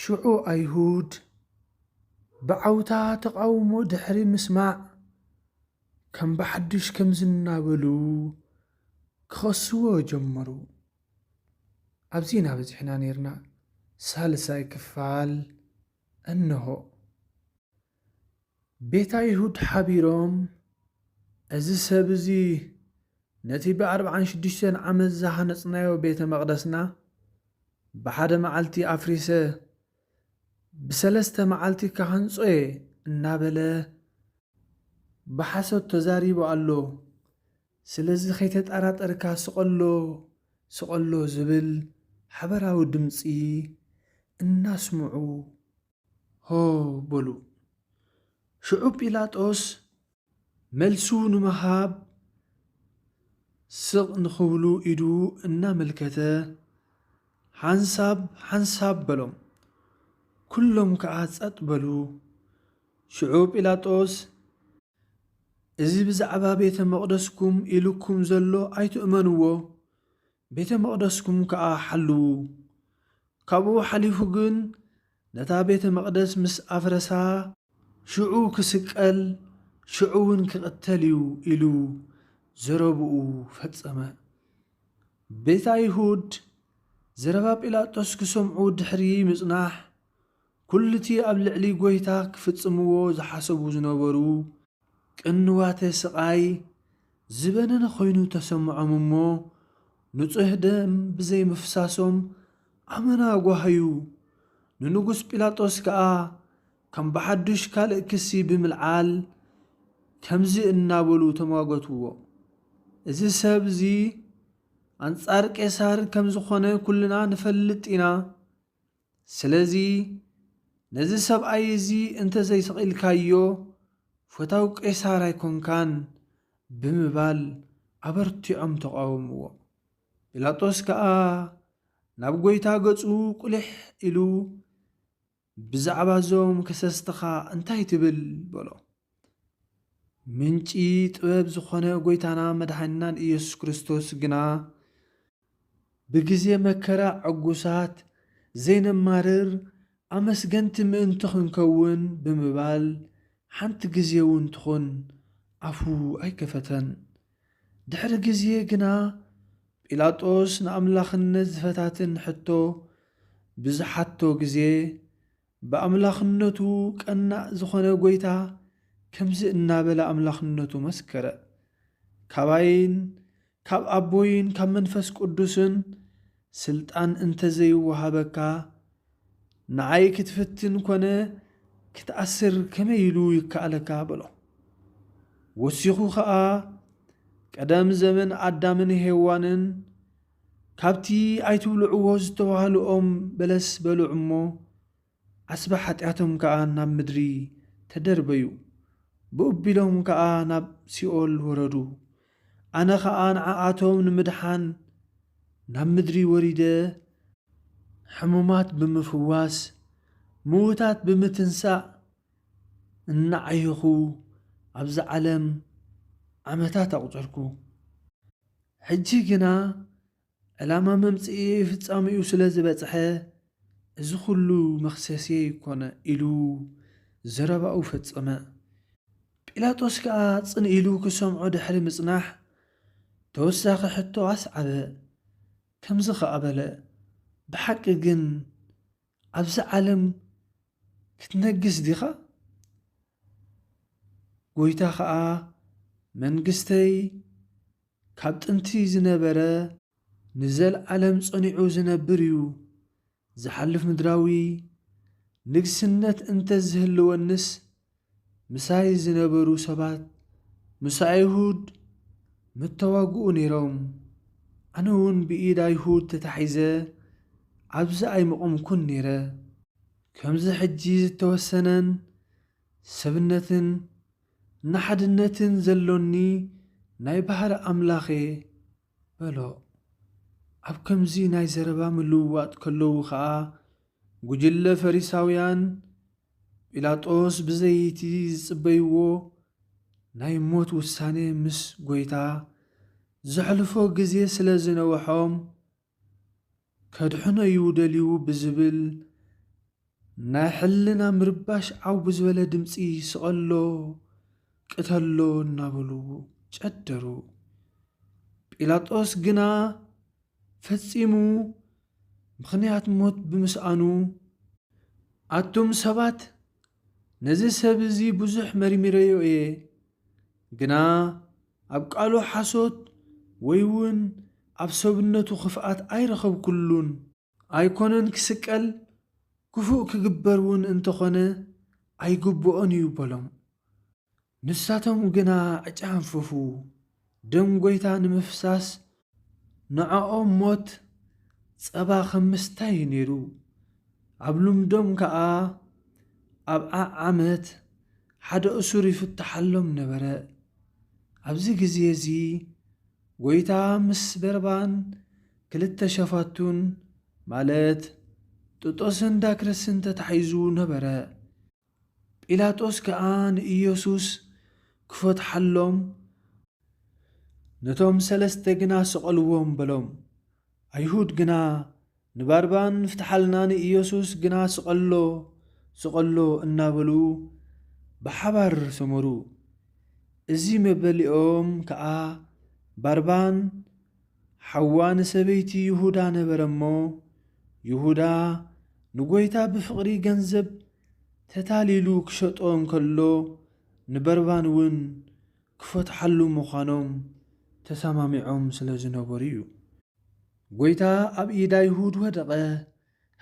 ሽዑ ኣይሁድ ብዓውታ ተቓውሞ ድሕሪ ምስማዕ ከም ብሓዱሽ ከምዚ እናበሉ ክኸስዎ ጀመሩ፣ ኣብዚ ኢና በጺሕና ኔርና፣ ሳልሳይ ክፋል እንሆ። ቤት ኣይሁድ ሓቢሮም፣ እዚ ሰብ እዚ ነቲ ብኣርብዓን ሽዱሽተን ዓመት ዝሃነጽናዮ ቤተ መቕደስና ብሓደ መዓልቲ ኣፍሪሰ ብሰለስተ መዓልቲ ክሃንጾ እየ እናበለ ብሓሶት ተዛሪቡ ኣሎ፣ ስለዚ ከይተጠራጠርካ ስቐሎ ስቐሎ ዝብል ሓበራዊ ድምጺ እናስምዑ ሆ በሉ። ሽዑ ጲላጦስ መልሱ ንምሃብ ስቕ ንኽብሉ ኢዱ እናመልከተ ሓንሳብ ሓንሳብ በሎም። ኵሎም ከኣ ጸጥ በሉ። ሽዑ ጲላጦስ እዚ ብዛዕባ ቤተ መቕደስኩም ኢሉኩም ዘሎ ኣይትእመንዎ፣ ቤተ መቕደስኩም ከኣ ሓልዉ። ካብኡ ሓሊፉ ግን ነታ ቤተ መቕደስ ምስ ኣፍረሳ፣ ሽዑ ክስቀል፣ ሽዑውን ክቕተል እዩ ኢሉ ዘረብኡ ፈጸመ። ቤት ኣይሁድ ዘረባ ጲላጦስ ክሰምዑ ድሕሪ ምጽናሕ፣ ኵሉ'ቲ ኣብ ልዕሊ ጐይታ ክፍጽምዎ ዝሓሰቡ ዝነበሩ ቅንዋተ ስቓይ ዝበነነ ዀይኑ ተሰምዖም እሞ፣ ንጹሕ ደም ብዘይምፍሳሶም ኣመና ጓሃዩ። ንንጉስ ጲላጦስ ከኣ ከም ብሓዱሽ ካልእ ክሲ ብምልዓል ከምዚ እናበሉ ተሟገቱዎ፣ እዚ ሰብ እዚ ኣንጻር ቄሳር ከም ዝዀነ ኵልና ንፈልጥ ኢና። ስለዚ ነዚ ሰብኣይ እዚ እንተ ዘይሰቒልካዮ ፈታው ቄሳር ኣይኰንካን ብምባል ኣበርቲዖም ተቓወምዎ። ጲላጦስ ከኣ ናብ ጐይታ ገጹ ቍሊሕ ኢሉ ብዛዕባ እዞም ከሰስትኻ እንታይ ትብል? በሎ። ምንጪ ጥበብ ዝዀነ ጐይታና መድሓኒናን ኢየሱስ ክርስቶስ ግና ብግዜ መከራ ዕጉሳት ዘይነማርር ኣመስገንቲ ምእንቲ ክንከውን ብምባል ሓንቲ ግዜውን ትኹን ኣፉ ኣይከፈተን። ድሕሪ ግዜ ግና ጲላጦስ ንኣምላኽነት ዝፈታትን ሕቶ ብዝሓቶ ግዜ፣ ብኣምላኽነቱ ቀናእ ዝዀነ ጐይታ ከምዚ እናበለ ኣምላኽነቱ መስከረ፣ ካባይን ካብ ኣቦይን ካብ መንፈስ ቅዱስን ስልጣን እንተ ዘይወሃበካ፣ ንዓይ ክትፍትን ኰነ ክትኣስር ከመይ ኢሉ ይከኣለካ? በሎ። ወሲኹ ኸኣ፣ ቀደም ዘመን ኣዳምን ሄዋንን፣ ካብቲ ኣይትብልዕዎ ዝተባህሉ ኦም በለስ በልዑ እሞ፣ ዓስቢ ሓጢኣቶም ከኣ ናብ ምድሪ ተደርበዩ፣ ብኡቢሎም ከኣ ናብ ሲኦል ወረዱ። ኣነ ኸኣ ንዓኣቶም ንምድሓን ናብ ምድሪ ወሪደ፣ ሕሙማት ብምፍዋስ፣ ምዉታት ብምትንሳእ፣ እናዓየኹ ኣብዚ ዓለም ዓመታት ኣቝጸርኩ። ሕጂ ግና ዕላማ መምጽኢ ፍጻሜኡ ስለ ዝበጽሐ እዚ ኹሉ መኽሰስየይ ኮነ ኢሉ ዘረባኡ ፈጸመ። ጲላጦስ ከኣ ጽን ኢሉ ክሰምዖ ድሕሪ ምጽናሕ ተወሳኺ ሕቶ ኣስዓበ። ከምዚ ኸኣ በለ፣ ብሓቂ ግን ኣብዛ ዓለም ክትነግስ ዲኻ? ጐይታ ኸኣ መንግስተይ ካብ ጥንቲ ዝነበረ፣ ንዘለኣለም ጸኒዑ ዝነብር እዩ፣ ዝሓልፍ ምድራዊ ንግስነት እንተ ዝህልወንስ ምሳይ ዝነበሩ ሰባት ምስ ኣይሁድ ምተዋግኡ ነይሮም፣ ኣነውን ብኢድ ኣይሁድ ተታሒዘ ኣብዚ ኣይምቖምኩን ነይረ። ከምዚ ሕጂ ዝተወሰነን ሰብነትን ንሓድነትን ዘሎኒ ናይ ባህሪ ኣምላኽ እየ። በሎ። ኣብ ከምዚ ናይ ዘረባ ምልውዋጥ ከለዉ ኸኣ ጕጅለ ፈሪሳውያን ጲላጦስ ብዘይ'ቲ ዝጽበይዎ ናይ ሞት ውሳኔ ምስ ጐይታ ዘሕልፎ ግዜ ስለ ዝነውሖም ከድሕኖ'ዩ ደልዩ ብዝብል ናይ ሕልና ምርባሽ ዓው ብዝበለ ድምጺ ስቐሎ ቅተሎ እናበሉ ጨደሩ። ጲላጦስ ግና ፈጺሙ ምኽንያት ሞት ብምስኣኑ ኣቱም ሰባት ነዚ ሰብ እዚ ብዙሕ መርሚረዮ እየ፣ ግና ኣብ ቃሉ ሓሶት ወይውን ኣብ ሰብነቱ ክፍኣት ኣይረኸብኩሉን። ኣይኮነን ክስቀል ክፉእ ክግበርውን እንተኾነ ኣይግብኦን እዩ በሎም። ንሳቶም ግና ኣጨሃንፈፉ። ደም ጐይታ ንምፍሳስ ንዕኦም ሞት ጸባ ኸም ምስታይ እዩ ነይሩ። ኣብ ልምዶም ከኣ ኣብ ዓዓመት ሓደ እሱር ይፍትሓሎም ነበረ። ኣብዚ ግዜ እዚ ጐይታ ምስ በርባን ክልተ ሸፋቱን ማለት ጥጦስን ዳክርስን ተታሒዙ ነበረ። ጲላጦስ ከኣ ንኢየሱስ ክፈትሓሎም ነቶም ሰለስተ ግና ስቐልዎም በሎም። ኣይሁድ ግና ንባርባን ፍትሓልና ንኢየሱስ ግና ስቐሎ ስቐሎ እናበሉ ብሓባር ሰመሩ። እዚ መበሊኦም ከኣ ባርባን ሓዋ ንሰበይቲ ይሁዳ ነበረ እሞ፣ ይሁዳ ንጐይታ ብፍቕሪ ገንዘብ ተታሊሉ ክሸጦ እንከሎ፣ ንበርባንውን ክፈትሓሉ ምዃኖም ተሰማሚዖም ስለ ዝነበሩ እዩ። ጐይታ ኣብ ኢድ ኣይሁድ ወደቐ፣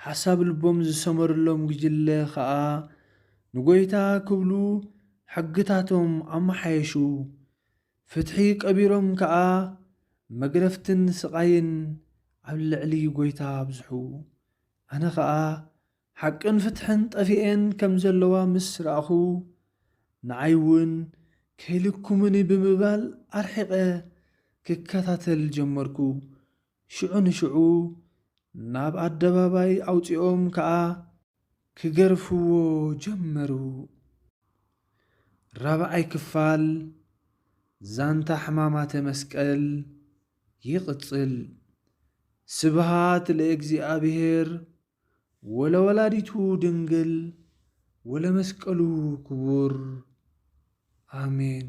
ሓሳብ ልቦም ዝሰመረሎም ጒጅለ ኸኣ ንጐይታ ክብሉ ሕግታቶም ኣመሓየሹ። ፍትሒ ቀቢሮም ከኣ መግረፍትን ስቓይን ኣብ ልዕሊ ጎይታ ኣብዝሑ። ኣነ ከኣ ሓቅን ፍትሕን ጠፊኤን ከም ዘለዋ ምስ ረኣኹ ንዓይ እውን ከይልኩሙኒ ብምባል ኣርሒቐ ክከታተል ጀመርኩ። ሽዑ ንሽዑ ናብ ኣደባባይ ኣውጺኦም ከኣ ክገርፍዎ ጀመሩ። ራብዓይ ክፋል ዛንታ ሕማማተ መስቀል ይቕጽል። ስብሃት ለእግዚኣብሔር ወለወላዲቱ ድንግል ወለመስቀሉ ክቡር ኣሜን።